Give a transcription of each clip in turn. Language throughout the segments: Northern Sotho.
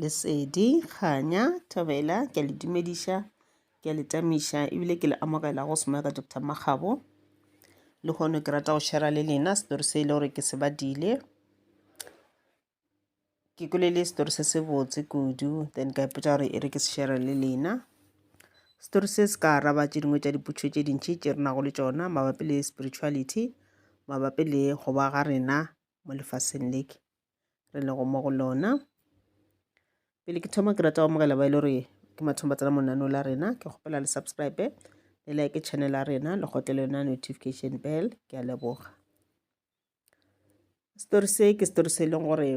Lesedi, Kganya, Thobela, ke a le dumediša, ke a le tamiša ebile ke le amogela go Semoya ka Doctor Makgabo. Le hono ke rata go shera le lena setori se e le gore ke se badile. Ke kwele le setori se se botse kudu then ka ipotsa gore e re ke se shera le lena. Setori se se ka araba tše dingwe tša dipotšo tše dintši tše re nago le tšona mabapi le spirituality, mabapi le go ba ga rena mo lefaseng leke. re lego mo go lona pele ke thoma ke rata go amogela ba e le gore ke mathomo ba tsena monano la rena ke kgopela le subscribe le like channel ya rena le gotle le yona notification bell ke a leboga story se ke story se e leng gore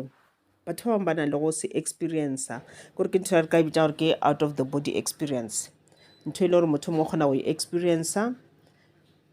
batho ba bangwe ba na le go se experience kore ke ntho ya re ka e bitsa gore ke out of the body experience ntho e le gore motho mongwe o kgona go e experience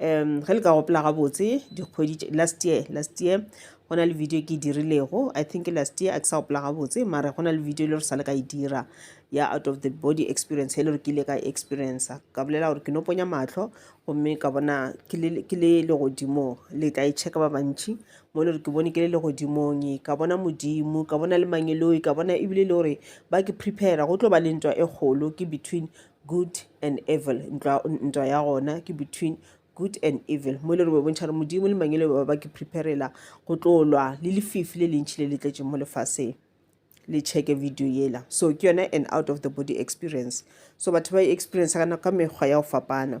um ge le ka gopola gabotse dikgwedi last year last year go na le video ke e dirilego i think last year a ke sa gopola gabotse mare go na le video e le gore sa le ka e dira ya out of the body experience e le gore ke ile ka e experience ka bolela gore ke no ponya matlho gomme ka bona ke le legodimo le tla e checka ba bantši mo e le gore ke bone ke le legodimong ka bona modimo ka bona le mangeloi ka bona ebile e le gore ba ke prepare go tlo ba le ntwa e kgolo ke between Good and evil, ntwa, ntwa ya gona ke between good and evil mo e le re bo bontšha re modimo le mangele ba ba ke preparela go tlo lwa le lefifi le lentšhi le le tletšeng mo lefaseng le checke video yela so ke yone an out of the body experience so batho ba e experience ka mekgwa ya go fapana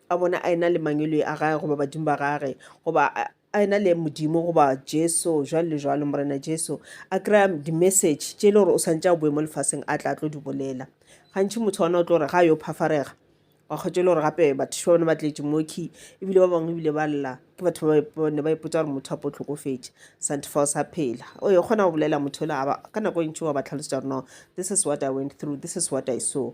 a bona a ena le mangwelwe a gage goba badimo ba gage goba a ena le modimo goba jesu jwale le jwalo morena jesu a kry-a di-message tše e le gore o swantse a boe mo lefaseng a tla tlo di bolela gantšhi motho wana o tlo gore ga yo phafarega wa kgwetsa e le gore gape batho ba bone ba tletše moki ebile ba bangwe ebile ba lla ke batho ba ne ba ipotsa gore motho a po tlhokofetše santifao sa phela o e kgona go bolela motho ola ka nako e ntši wa ba tlhalosetsa gore no this is what i went through this is what i saw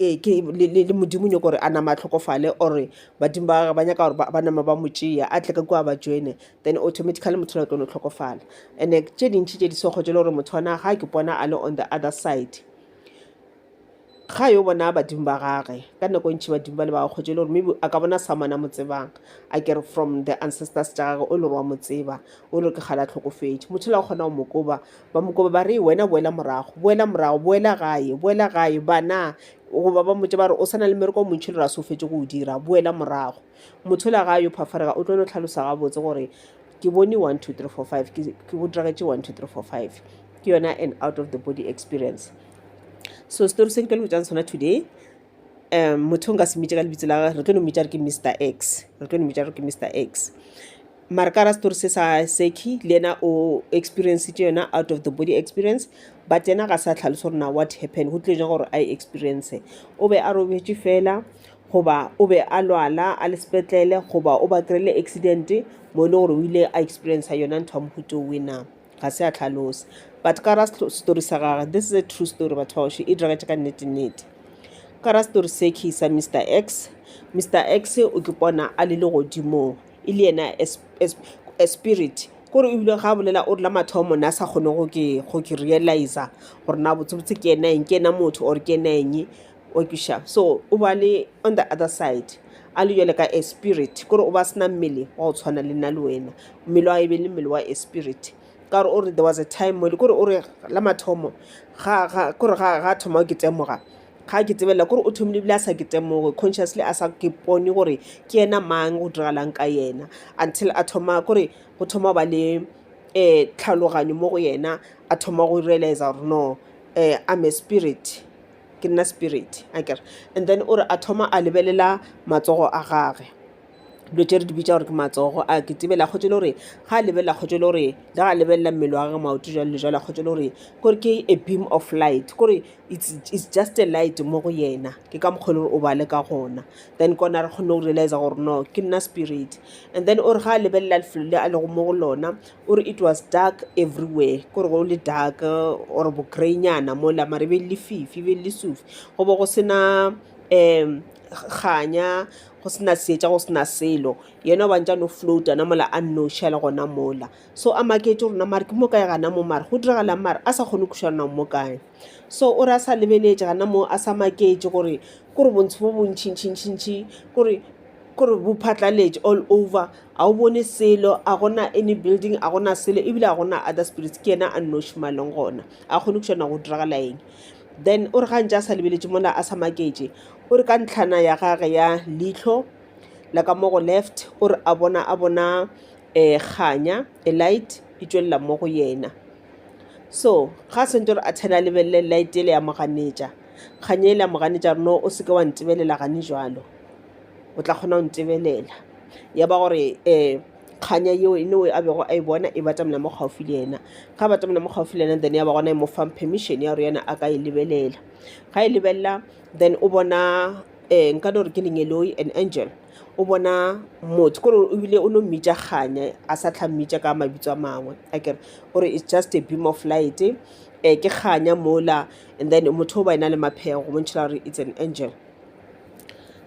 ee ke le, le, le modimo nyoko gore a nama a tlhokofale or badimo ba gage ba nyaka gore ba, ba nama ba mo tšea a tle ka kua ba joine then automatically motho la tlo no tlhokofala and tše dintši tše di sego tše le gore motho wana ga ke bona a le on the other side ga yo bona badimo ba gage ka nako e ntšhi badimo ba le ba kgotše le gore maybe a ka bona someone a mo tsebang a kere from the ancestors tša gage o le gore wa mo tseba o le gore ke kgale a tlhokofetše motho la kgona go mo koba Ba mo koba ba re, Wena boela morago, boela morago, boela gae, boela gae, bana. Goba ba mmotša ba re, O sa na le mmereko o montši le ra se o fetše go o dira, boela morago. Motshola ga a yo phafarega, o tlo no hlalosa gabotse gore, Ke bone one, two, three, four, five, ke, ke go diragetše one, two, three, four, five. Ke yona an out of the body experience. So setori se ke tlo le botšang sona today, um motho nka se mmitše ka lebitso la re tlo no mmitša re ke mr x re tlo no mmitša re ke mr x mara ka ra story se sa seki le yena o experience tše yona out of the body experience but yena ga sa tlhaloso gore na what happen go tlile jang gore a e experience o be a robetše fela goba o be a lwala a le sepetlele goba o ba kry-ile accident mo e le gore o ile a experience yona ntho ya mohuto wena ga se a tlhalosa but ka ra story sa gage this is a true story batho bao she e diragatše ka nnete nnete ka ra story se ke sa mr x mr x o ke pona a le legodimong e le yena as, as, as spirit kore o bile ga bolela o rela mathomo ne a sa kgone go ke go ke realiza gore na botsebotse ke ena eng ke ena motho or ke ena eng okiša so o ba le on the other side a le jale ka a spirit kore o ba sena mmele wa go tshwana le nna le wena mmele wa e be le mmele wa a spirit ka gore o re there was a time mole kore o re la mathomo kore ga thoma ke temoga ga ke tsebelela kore o thomile ebile a sa ke temoge consciously a sa ke pone gore ke yena mang go diragalang ka yena until a thoma kore go thoma ba le um tlhaloganyo mo go yena a thoma go realize gore no um I'm a spirit ke nna spirit a kere and then o re a thoma a lebelela matsogo a gage dilo tše re di bitsa gore ke matsogo a ke tsebela kgotse le gore ga a lebelela kgotse le gore le ga a lebelela mmele wa gage maoto jalo le jalo a kgotse le gore kore ke a beam of light kore it's, it's just a light mo go yena ke ka mokgwa le gore o bale ka gona then kona re kgone go realize gore no ke nna spirit and then o re ga a lebelela lefelo le a lego mo go lona O re, It was dark everywhere. Ko re go le dark or bokreinyana mola mare be lefifi be lesufi go bo go sena um kganya go sena seetša go sena selo yena o bantša no float ana mola a nnoši a le gona mola so a maketše gore na mare ke mo kae gana mo mare go diragalang mare a sa kgone go kweša gore na o mo kae So o re a sa lebeletše gana mo a sa maketše gore kore bontsho bo bontšintšintšintši kore kore bo phatlaletše all over, ga o bone selo a gona any building a gona selo ebile a gona other spirits ke yena a nnoši mo a leng gona a kgone go nago go diragala eng. Then o re ga ntše a sa lebeletše mola a sa maketše o re ka ntlhana ya gage ya leihlo la ka mo go left o re a bona a bona um kganya a light e tšwelela mo go yena so ga a swanetše gore a tshele a lebelele light yele ya mo ganetša kganya yela ya mo ganetša gore no o seke wa ntebelela gane jalo o tla kgona go ntebelela ya ba gore um kganya yeo e no a bego a e bona e batamela mo gaufi le yena ga a batamela mo gaufi le yena then ya ba gona e mo fang permission ya gore yena a ka e lebelela ga e lebelela then o bona um nka no re ke lengeloi an angel o bona motho kore o bile o no mmitša kganya a sa tlha mmitša ka mabitso a mangwe a kere o re it's just a beam of light um ke kganya mola and then motho o ba e na le maphego go bontšhela gore it's an angel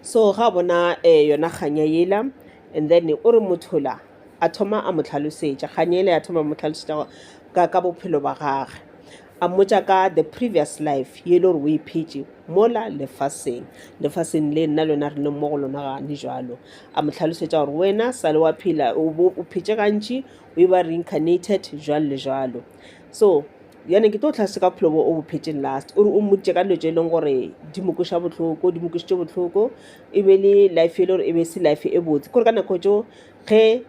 so ga a bona um yona kganya yela and then o re motho la a thoma a mo tlhalosetša kganya yela ya thoma mo tlhalosetša ka ka bophelo ba gage A mmotša ka the previous life ye e le gore o e phetše mola lefaseng, lefaseng le nna lona re leng mo go lona gane jalo. A mo hlalosetša gore wena sa le wa phela o bo o phetše gantši o e ba reincarnated jwalo le jwalo. So yane ke tlo tlhase ka bophelo bo o bo phetšeng last o re o mmoditše ka dilo tše e leng gore di mo kweša bohloko di mo kwešitše bohloko e be le life e le gore e be se life e botse kore ka nako tšeo ge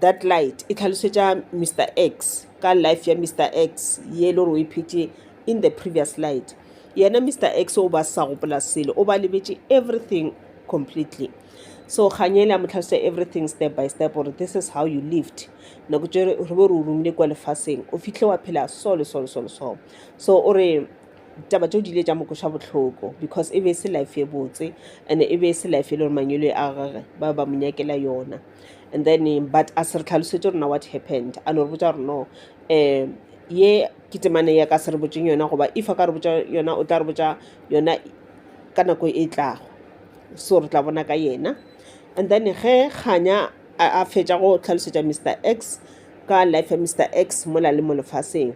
That light e tlhalosetša Mister X ka life ya Mister X ye e le gore o e phetše in the previous light. Yena Mister X o ba sa gopola selo, o ba lebetše everything completely. So kgang ele a mo tlhalosetša everything step by step gore this is how you lived. Nako tše re be re o romile kwa lefaseng, o fihle wa phela so le so le so le so. So o re Ditaba tšeo di ile tša mo kweša bohloko because e be e se life e botse and e be e se life e le gore manyolo a gage ba ba mo nyakela yona and then but a se re tlhalosetse rona what happened a no re botša gore no um ye ke temane ya ka se re botseng yona goba if a ka re botša yona o tla re botša yona ka nako e tlago so re tla bona ka yena and then ge kganya a a fetša go tlhalosetša mr x ka life ya mr x mola le mo lefaseng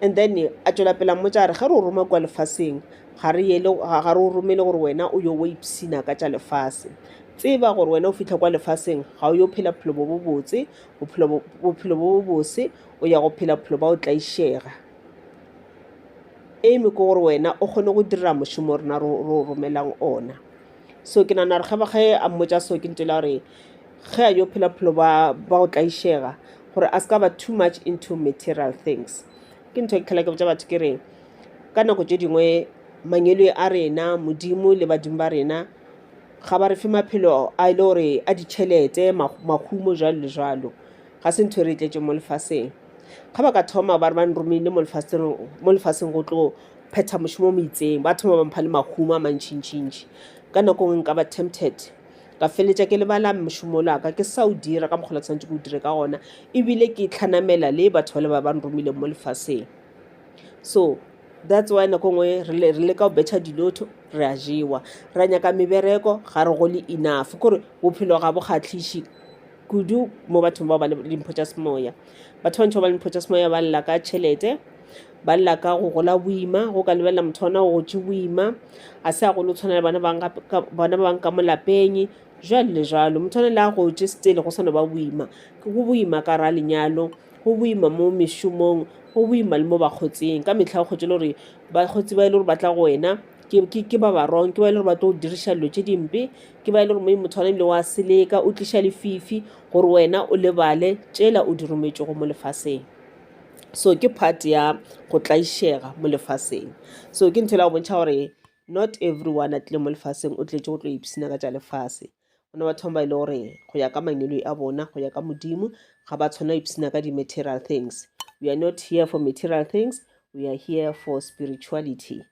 And then a tšwela pele a mmotša a re, ge re o roma kua lefaseng ga re yele, ga re o romele gore wena o yo wa ipshina ka tša lefase. Tseba gore wena o fihla kua lefaseng ga o yo phela bophelo bo bo botse, bophelo bo, bophelo bo bo bose, o ya go phela bophelo ba go tlaišega. Aim ke gore wena o kgone go dira mošomo rena re o, re o romelang ona. so ke nagana gore ge a mmotsa so ke ntho ela gore ge a yo phela bophelo ba go tlaišega gore a ska ba too much into material things ke ntho e ke tlhola ke botsa batho ke re ka nako tše dingwe mangelo a rena modimo le badimo ba rena ga ba re fe maphelo a e le gore a ditšhelete mahumo jalo le jalo ga se ntho e re e tletse mo lefaseng Ga ba ka thoma ba re ba nromile mo lefaseng go tlo phetha mošomo o mo itseng, ba thoma ba mpha le mahumo a mantšintšintši. Ka nako nngwe nka ba tempted, ka feleletša ke lebala mošomo ola wa ka, ke sa o dira ka mokgwa o ke swanetše ke o dire ka gona, ebile ke tlhanamela le batho bale ba ba nromileng mo lefaseng. So that's why nako nngwe re leka go betšha dilotho, re a jewa. Ra nyaka mebereko, ga re gole enough, kore bophelo ga bo kgahliše. kudu mo bathong bao ba le dimpho tša semoya. Batho ba bantši ba ba le dimpho tša semoya ba lla ka tšhelete, ba lla ka go gola boima, go ka lebelela motho ona o gotše boima, a se a golo o tshwana le bona ba bang gape- ka- bona ba bang ka mo lapeng, jwalo le jwalo. Motho ona le a gotše still go sa no ba boima. Ke go boima ka ra lenyalo, go boima mo mešomong, go boima le mo bakgotsing. Ka mehla o kgotše le gore bakgotsi ba e le gore ba tla go wena ke, ke, ke ba ba wrong, ke ba e le gore ba tlo go diriša dilo tše dimpe, Ke ba e le gore Moeng motho wa namile wa seleka, o tliša lefifi gore wena o lebale tšela o di rometšego mo lefaseng. So ke part ya go tlaišega mo lefaseng. So ke ntho e la go bontšha gore not everyone a tlile mo lefaseng o tletše go tlo ipshina ka tša lefase. Go na batho ba e le gore go ya ka mangelo a bona, go ya ka Modimo, ga ba tshwanela ipshina ka di-material things. We are not here for material things, we are here for spirituality.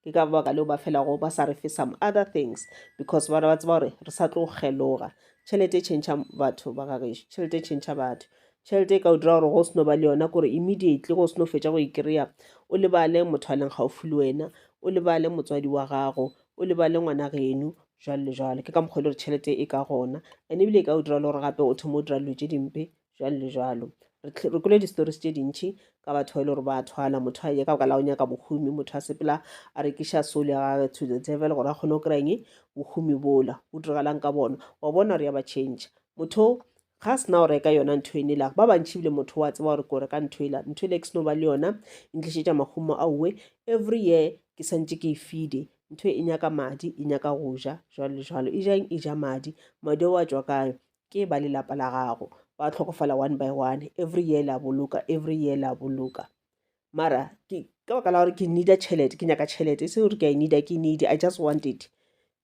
Ke ka baka leo ba felago ba sa re fe some other things because ba ba tseba gore re sa tlo geloga. Tšhelete e tšhentšha batho ba gagešo, tšhelete e tšhentšha batho. Tšhelete e ka o dira gore go se no ba le yona kore immediately go se no fetša go e kry-a o lebale motho a leng gaufi le wena, o lebale motswadi wa gago, o lebale ngwana geno jwalo le jwalo. Ke ka mokgwa e le gore tšhelete e ka gona and ebile e ka o dira le gore gape o thoma o dira dilo tše dimpe jwalo le jwalo re kwele di-stories tše dintšhi ka batho ba e le gore ba thwana motho a nyaka ka la o nyaka bohumi motho a sepela a rekiša soul ya gage to the devil gore a kgone go kry-eng bohumi bola o diragalang ka bona wa bona gore ya ba change motho ga a sena go reka yona ntho ene la ba bantšhi ebile motho wa tseba gore ko reka ntho ela ntho ele ke seno ba le yona e ntlišetša mahumo a uwe every year ke santse ke e fide ntho e nyaka madi e nyaka go ja jwalo le jwalo e jang e ja madi madi o a tswa kayo Ke ba lelapa la gago. Ba tlhokofala one by one. Every year la boloka, every year la boloka. Mara, ke, ka baka la gore ke needa tšhelete, ke nyaka tšhelete. E se gore ke a e needa, ke needy, I just want it.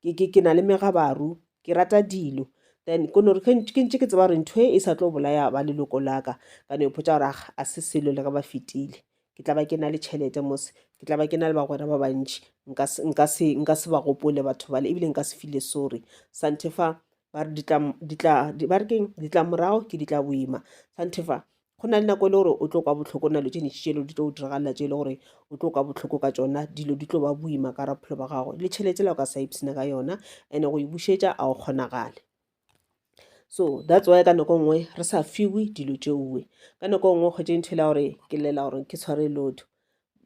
Ke, ke, ke na le megabaru, ke rata dilo. Then, ko nore, ke, ke ntše ke tseba gore ntho e, e sa tlo bolaya ba leloko la ka. Ka no ipotša gore, ah, a se selo le ge ba fetile. ke tla ba ke na le tšhelete mose ke tla ba ke na le bagwera ba bantši nka se ba gopole batho bale ebile nka se file sorry santefa ba re keng ditlamorago ke ditla boima santefa go na le nako e le gore o tlo kwa botlhoko na lo tše ntši tšelo di tlo diragalela tše e le gore o tlo kwa botlhoko ka tsona dilo di tlo ba boima ka raphelo ba gago le tšhelete la o ka sa ipsena ka yona and-e go e bušetša a o kgonagale So that's why ka nako e nngwe re sa fiwe dilo tšeoe ka nako e nngwe o kgwetše ntho e la gore ke llela gore ke tshware lotho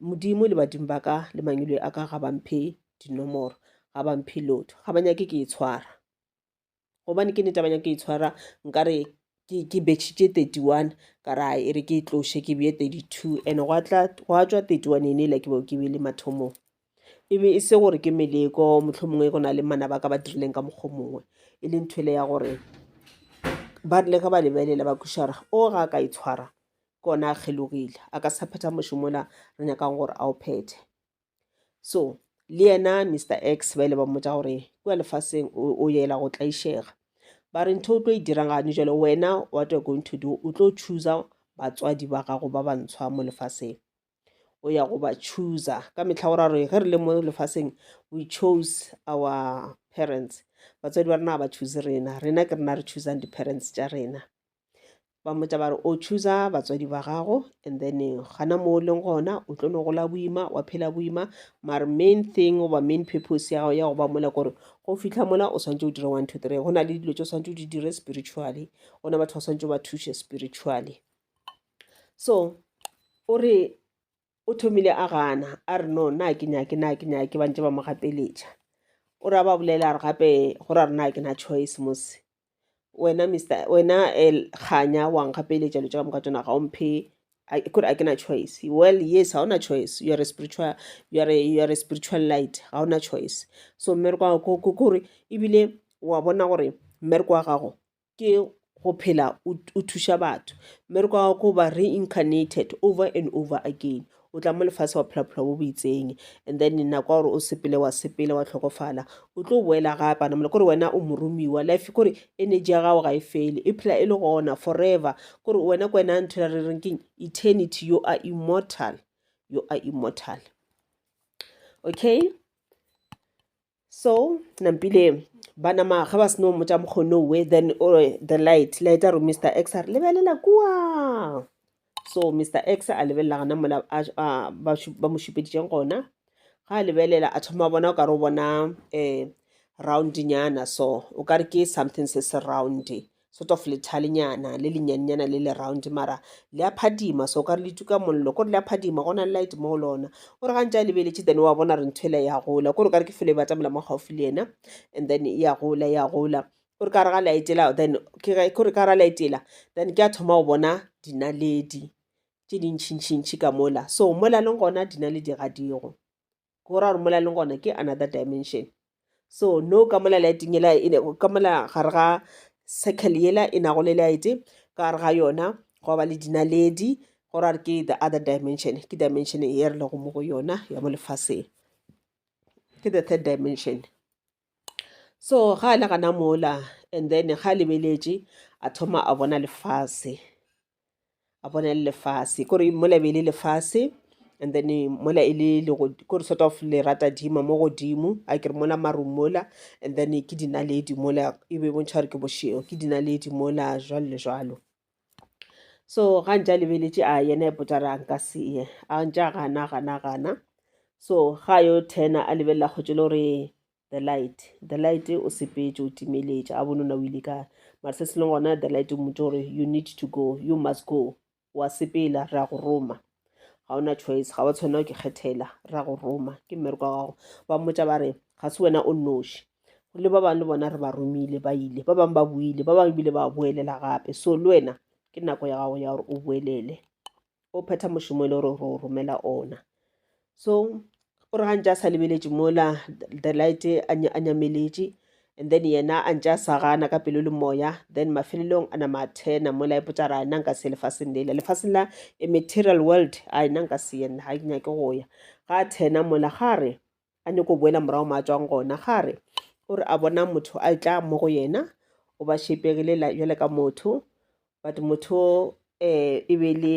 modimo le badimo ba ka le mangilwe a ka ga ba mphe dinomoro ga ba mphe lotho ga ba nyake ke e tshwara gobane ke nete ba nyake e tshwara nkare ke betšhitše thirty one ka ra e re ke e tloše ke beye thirty two and gwa tšwa thirty one ene e la ke bao ke bele mathomong. e be e se gore ke meleko mohlomongwe go na le manaba a ka ba dirileng ka mokgwa mongwe e leng thwele ya gore ba rile ge ba lebelela ba kweša gore o ga a ka itshwara ke ona a kgelogile a ka sa phetha mošomola re nyakang gore a o phethe so le yena mr x ba ile ba mmotsa gore kua lefaseng o yela go tlaišega ba re ntho o tlo e dirang gane jalo wena what you're going to do o tlo chooser batswadi ba gago ba bantshwa mo lefaseng o ya go ba chooser ka mehla o ra re ge re le mo lefaseng we chose our parents batswadi ba rena ga ba choose rena rena ke rena re choosang di-parents tša rena ba mmotsa ba re o chooser batswadi ba gago and then gana mo o leng gona o tlo no gola boima wa phela boima mare main thing goba main purpose ya gago ya go ba mola kore go fitlha mola o swantse o dire one two three go na le dilo tse o swantse o di dire spiritually go na batho ba swantse ba thushe spiritually so o re o thomile a gana a re no nna ke nyake nna ke nyake ba ntse ba mo gapeletša o ra ba bolela a re gape go ra rena ke na choice mos wena mister wena eh, kganya wa nkgapeletša lo tša ka moka tsona ga o mphe kore a ke na choice well yes ga ona choice you are a spiritual you are a, you are a spiritual light ga ona choice so mmereko wa gago kore ebile wa bona gore mmereko wa gago ke go phela o thuša batho mmereko wa gago ke go ba reincarnated over and over again o tla mo lefatshe wa phela bophelo bo bo itseng and then nako ya gore o sepele wa sepele wa tlhokofala o tlo boela gape ana mole kore wena o moromiwa life kore energy ya gago ga e fele e phela e le gona forever kore wena ko wena a nthela re reng keng eternity you are immortal you are immortal okay so nampile ba nama ga ba seno mmotsa mokgono we then o re, the light light a re mr x a re lebelela kua so mr x a lebelela gana mola a- a- ba šu- ba mo šupeditšeng gona ga a lebelela a thoma a bona o ka re o bona um roundnyana so o ka re ke something se se round sort of lethalenyana le lenyannyana le le round mara le a phadima so ka re le tuka mollo kore le a phadima go na le light mo go lona o re gantse a lebeletše then wa bona re ntho e le ya gola kore ka re ke felo e batamela mo gaufi le yena and then e ya gola ya gola kore ka re ga laetela then kore ka ra laetela then ke a thoma go bona dinaledi tše dintšhintšhintšhi ka mola so mola leng gona dinaledi ga digo ke go ra gore mola leng gona ke another dimension so no ka mola lighting ela e ka mola gare ga circle yela e nago le light ka gare ga yona go ba le dinaledi go ra gore ke the other dimension ke dimension e re lego mo go yona ya mo lefaseng ke the third dimension so ga a le gana mola and then ga a lebeletše a thoma a bona lefase a bona le lefase kore mola be e le lefase and then mola e le kore sort of le rata dima mo godimo a kere mola marung mola and then ke dinaledi mola e be bontšha gore ke bošego ke dinaledi mola jwalo le jwalo so ga ntša lebeletše a yena e potsa ra nka seye a ntša gana gana gana so ga yo tena a lebelela kgotse le gore the light the light o sepetše o timeletše a bone o na o ile kae mara se se leng gona the light o motse gore you need to go you must go wa sepela ra go roma ga ona choice ga wa tshwanela ke kgethela ra go roma ke mmereko wa gago ba mmotsa ba re ga se wena o noši le ba bangwe le bona re ba romile ba ile ba bangwe ba buile ba bangwe bile ba boelela gape so le wena ke nako ya gago ya gore o boelele o phetha mošomo e le gore o romela ona So o re ga ntse a sa lebeletše mola the light a nya- a nyameletše and then yena a ntse a sa gana ka pelo le moya then mafelelong a nama a thena mola e potsa ra nna nka se ye lefaseng lela lefaseng la a material world a nna nka se ye nna ga ke nyake go ya ga a thena mola ga re a nyako boela morago ma tswang gona ga re o re a bona motho a e tla mo go yena o ba šepegile la- bjale ka motho but motho um e be le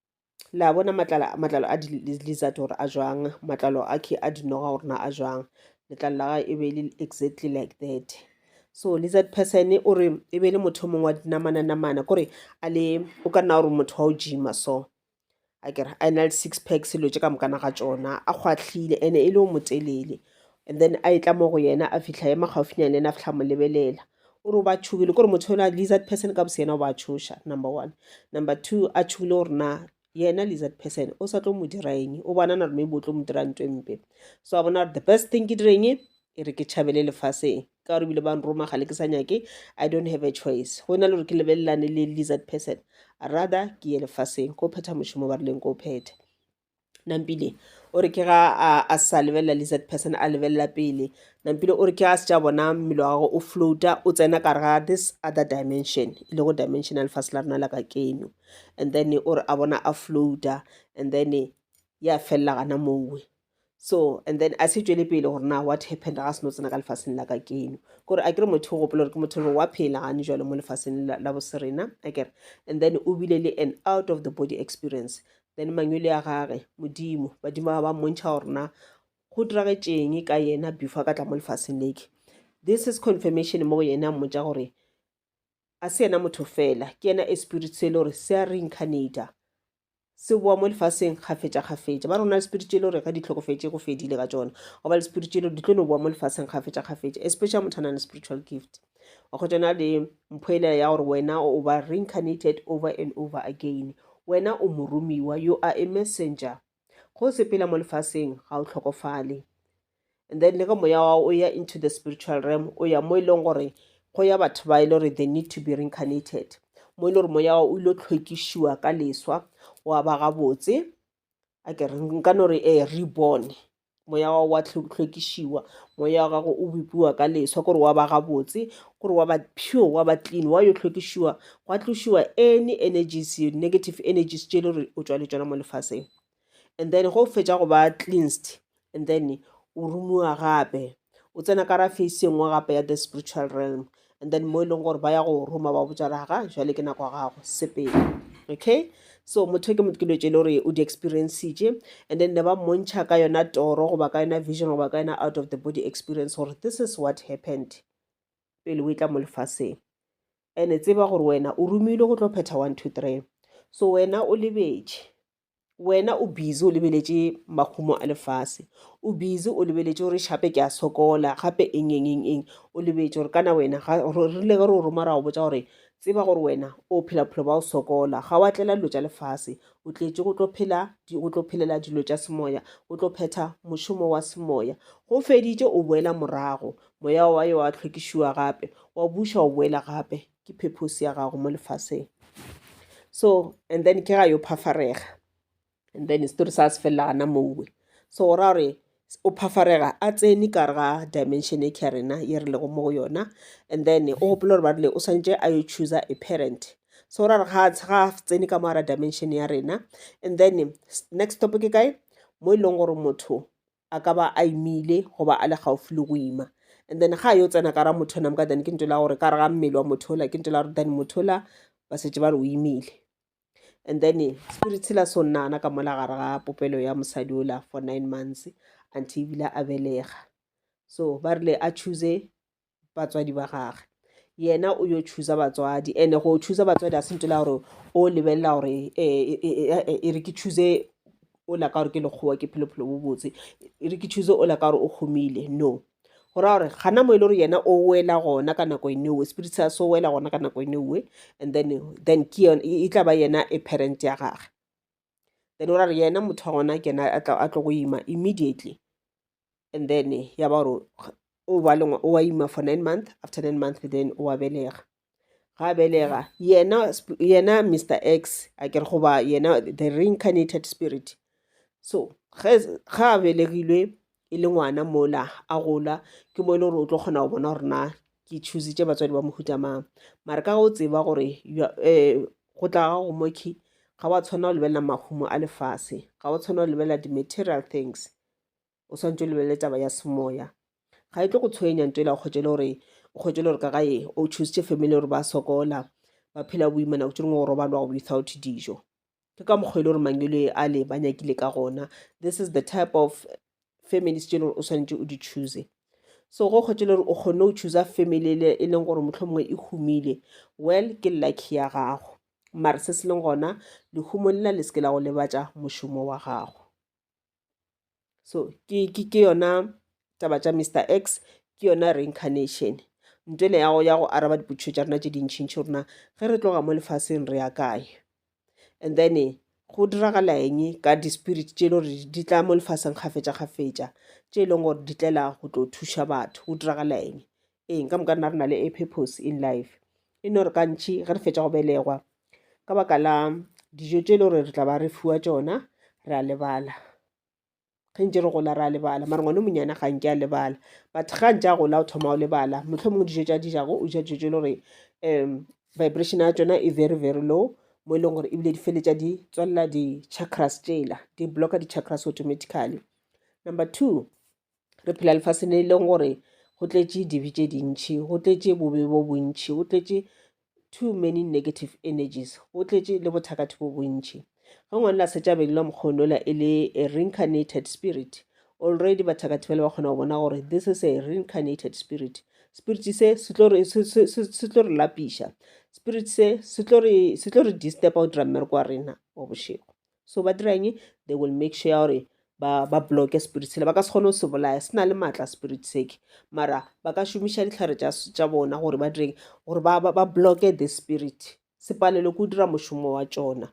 le a bona matlalo a di-lizard gore a jwang matlalo a a dinoga gore na a jwang letlalo la gage e be e le exactly like that so lizard person o re e be e le motho mongwe wa dinamana namana kore a le o ka nna gore motho wa o gima so a kere a ena le six pack selo tse ka mokana ga tsona a kgwahlile ene e le o motelele and then a e tla mo go yena a fitlha ema gaufinyane le ena a fitlha mo lebelela o re o ba tšhogile kore motho yona lizard person ka boseyena o ba tšhoša number one number two a tšhogile gore na yena lizard person o sa tlo mo dira eng o bona na gore maybe o tlo mo dira nto e mpe so a bona gore the best thing ke direng e re ke tšhabele lefaseng ka gore ebile ba nroma ga le ke sa nyake i don't have a choice go na le gore ke lebelelane le lizard person rather ke ye lefaseng ko phetha mošomo ba rileng ko phethe nampile o re ke ga a sa lebelela lizard person a lebelela pele nampile o re ke a se tša bona mmele wa gagwe o floata o tsena ka ga this other dimension e lego dimension ya lefatshe la rena la ka keno and then o re a bona a floata and then ya felela gana mowe so and then a se tšwele pele gore na what happened ga se no tsena ka lefaseng la ka keno kore a kere motho o gopola gore ke motho le wa phela gane jalo mo lefaseng la boserena a kere and then o bile le an out of the body experience then mangwele a gage modimo badimo ba ba mmontšha gore na go diragetšeng ka yena before ka tla mo lefaseng leke this is confirmation mo go yene a mmotsa gore a se yena motho fela ke yena a spirit se e le gore se a reincarnata se boa mo lefaseng kgafetša kgafetša ba rona le spirit e le gore ga di tlhokofetse go fedile ka tsona goba le spirit e le gore di tlo no boa mo lefaseng kgafetša kgafetša especially motho a nang le spiritual gift wa kgwetša na le mphoelela ya gore wena o ba reincarnated over and over again wena o moromiwa you are a messenger go sepela mo lefaseng ga o tlhokofale and then le ge moya wa o ya into the spiritual realm o ya mo e leng gore go ya batho ba e le gore they need to be reincarnated mo e le gore moya wa o ile tlhwekišiwa ka leswa wa ba gabotse a ke re nka no re e eh, reborn moya wa wa tlhokišiwa moya wa gago o bopiwa ka leswa gore wa ba gabotse gore wa ba pure wa ba clean wa yo tlhokišiwa gwa tlošiwa any energies negative energies tše e le gore o tšwa le tšona mo lefaseng and then go fetša go ba cleansed and then o rumiwa gape o tsena ka ra face engwe gape ya the spiritual realm and then mo e leng gore ba ya go roma ba botsa re ga jale ke nako ya gago sepele okay so motho ke motho ke dilo tse le gore o di experiencitše and then ne ba mmontšha ka yona toro goba ka yona vision goba ka yona out of the body experience gore this is what happened pele o e tla mo lefaseng and-e tseba gore wena o romilwe go tlo phetha one two three so wena o lebetše wena o busy o lebeletše makgumo a lefase o busy o lebeletše gore shape ke a sokola gape eng eng eng eng o lebetše gore kana wena rile ge re o roma ra go botsa gore tseba gore wena o phela bophelo ba o sokola ga wa tlela dilo tša lefase o tletše go tlo phela go tlo phelela dilo tša semoya o tlo phetha mošomo wa semoya go feditše o boela morago moya wa yo wa tlhwekišiwa gape wa buša o boela gape ke purpose ya gago mo lefaseng so and then ke ga yo phafarega and then story sa se felela gana mowe so go ra gore o phafarega a tsene kare ga dimension e kya rena ye re lego mo go yona and then o gopola gore ba rile o swantse a yo chooser a parent so ra re ga ga tsene ka moara dimension ya rena and then next stop ke kae mo e leng gore motho a ka ba a imile goba a le gaufi le go ima and then ga a yo tsena ka ra motho ona moka then ke nto la gore ka re ga mmele wa motho ola ke nto la gore then motho ola ba setse ba re o imile and then spirit sela so nnana ka mola gare ga popelo ya mosadi ola for nine months until ebile a belega so ba rile a choose batswadi ba gage yena o yo chooser batswadi and go chooser batswadi a se nto la gore o lebelela gore eh, eh, eh, e re ke choose o la ka gore ke lekgowa ke phelophelo bo botse e re ke choose o la ka gore o humile no go raya gore gana mo e le gore yena o wela gona ka nako ene owe spirit sa so wela gona ka nako ene owe and then then ke e tla ba yena e parent ya gage then o ra re yena motho wa gona ke yena a tlo go ima immediately and then ya ba gore o ba lengwe o wa ima for nine month after nine month then o wa belega ga belega yena yena mr x a kere goba yena the reincarnated spirit so ga a belegilwe e le ngwana mola a gola ke mo e le gore o tlo kgona go bona gore na ke choositše batswadi ba mohuta mang mare ka go tseba gore um go tla ga go moki ga wa tshwanela go lebelela mahumo a lefase ga wa tshwanela go lebelela di-material things o swantse o lebelele taba ya semoya ga e tlo go tshwenya nto e la kgotse le gore o kgotse le gore ka gae o choositše family gore ba sokola ba phela boima nako tse dingwe go robalwa go without dijo ke ka mokgwa e le gore mangwelo a le ba nyakile ka gona this is the type of families tse e le gore o swanetše o di choose so go kgwetse le gore o kgonne o choosa family ele e leng gore motlho mongwe e humile well ke lucky ya gago mare se se leng gona lehumong lela le seke la go lebatša mošomo wa gago so ke yona taba tša mr x ke yona reincarnation nto ene ya go araba dipotšišo tša rena tše dintšhintšhi rona ge re tloga mo lefaseng re ya kae and then eh, go diragala eng ka di-spirit tše e le gore di tla mo lefaseng kgafetša-kgafetša tše e leng gore di tlela go tlo thuša batho go diragala eng Eng, ka moka rena re na le a purpose in life e no re kantšhi ge re fetša go belegwa ka baka la dijo tše e le gore re tla ba re fiwa tšona re a lebala ge ntse re gola re a lebala mare ngwane monyana ga nke a lebala but ga ntse a gola o thoma o lebala motlho mongwe dijo tša dijago o ja dijo tše e le gore um vibration ya tšona e very very low mo e leng gore ebile di feletša di tswalela di-chakras tšela di blocka di-chakras automatically number two re phela lefase le e leng gore go tletše dibe tše dintšhi go tletše bobe bo bontšhi go tletše too many negative energies go tletše le bothakatho bo bontšhi ge ngwane la setšabeng la mokgonola e le a reincarnated spirit already bathakatho ba le ba kgona go bona gore this is a reincarnated spirit spirit se se tlo re lapiša spirit se se tlo re disturba go dira mmereko wa rena wa bošego so ba dira eng they will make sure ya gore ba ba bloke spirit sele ba ka se kgone go se bolaya se na le maatla spirit seke mara ba ka šomiša ditlhare tša bona gore ba direng gore ba ba bloke the spirit se palelwe ke go dira mošomo wa tšona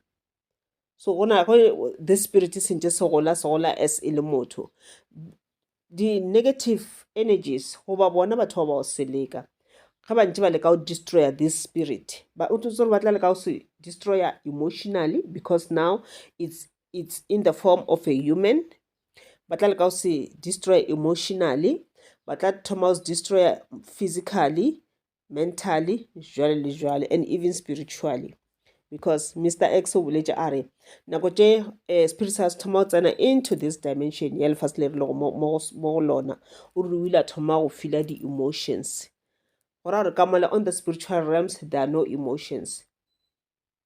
so gona go the spirit se ntse se gola se gola as e le motho di-negative energies goba bona batho ba ba go seleka ge ba ntse ba leka go destroyer this spirit ba o tsotse gore ba tla leka go se destroyer emotionally because now it's, it's in the form of a human ba tla leka go se destroyer emotionally ba tla thoma go se destroyer physically mentally jwale le jwale and even spiritually because mr x o boletse a re nako tše um spirit sa se thoma go tsena into this dimension ya lefase le re lego mo go lona o re o ile a thoma go fila di-emotions go ra gore ka mola on the spiritual realms there are no emotions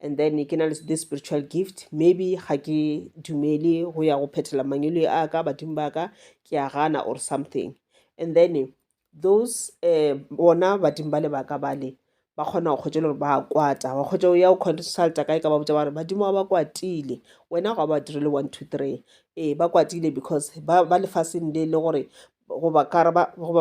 and then ke na le the spiritual gift maybe ga ke dumele go ya go phethela mangwele a ka badimo ba ka ke a gana or something and then those eh, bona badimo ba le baka bale ba kgona go kgwetsa gore ba kwata wa kgwetsa ya o consulta kae ka ba botsa ba re badimo ba ba kwatile wena ga ba direle one two three ee ba kwatile because ba ba lefaseng le le gore goba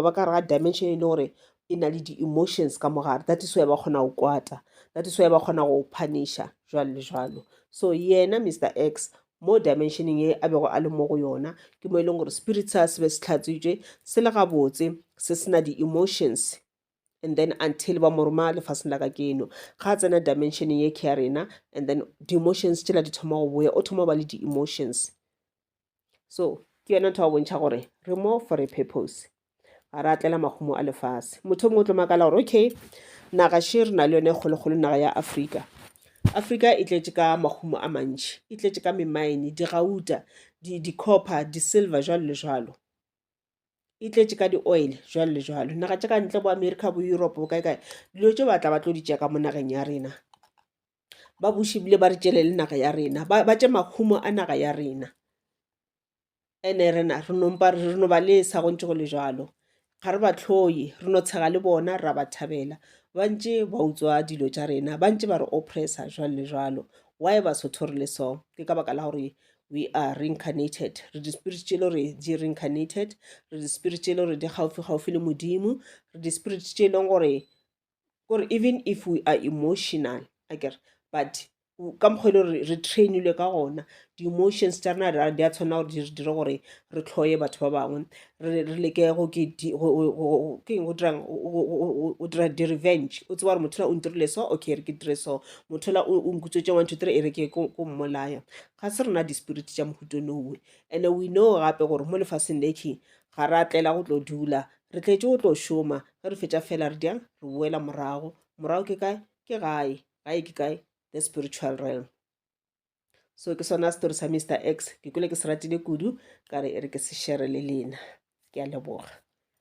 ba ka re ga dimension e le gore e na le di-emotions ka mogare that is why ba kgona go kwata that is why ba kgona go punisha jwalo le jwalo so yena mr x mo dimensioning e a bego a le mo go yona ke mo e leng gore spirit sa se be se tlhatswitswe se le gabotse se sena di-emotions and then until ba mo roma lefaseng la ka keno ga a tsena dimensioning e ke ya rena and then di-emotions tšela di thoma go boya o thoma go ba le di-emotions so ke yona ntho ya go bontšha gore re mo for a purpose ga re atlela mahumo a lefase motho mongwe o tlo makala gore okay naga she re na le yone e kgolokgolo naga ya afrika afrika e tletše ka mahumo a mantši e tletše ka memaene digauta di-copper di-silver jalo le jalo e tletše ka di-oil jalo le jalo naga tša ka ntle bo america bo europe bo kae kae dilo tse batla ba tlo di tšea ka mo nageng ya rena ba buši bile ba re tšele le naga ya rena ba tše makhumo a naga ya rena ene rena re nompa re no ba le sa go ntse go le jalo ga re ba tlhoye re no tshega le bona ra ba thabela ba ntše ba utswa dilo tša rena ba ntše ba re oppressa jwalo le jwalo why ba sotho re le so ke ka baka la gore we are reincarnated re di-spirit tše le re di reincarnated re di-spirit tše le gore di gaufi-gaufi le modimo re di-spirit tše e leng gore kore even if we are emotional a kere but ka mokgwa e le gore re trainilwe ka gona di-emotions tša rena di a tshwanela gore di dire gore re tlhoye batho ba bangwe re leke go dirang o dira di-revenge o tseba gore motho la o ntirile so okay re ke dire so motho la o nkutswetse one two three e re ke ko mmolaya ga se rena di-spirit tša mohuto nowe and-e we know gape gore mo lefaseng le key ga re atlela go tlo dula re tletse go tlo šoma ge re fetša fela re diang re boela morago morago ke kae ke gae gae ke kae the spiritual realm so ke sona story sa mr x ke kwele ke se ratile kudu ka re e re ke se shere le lena ke a leboga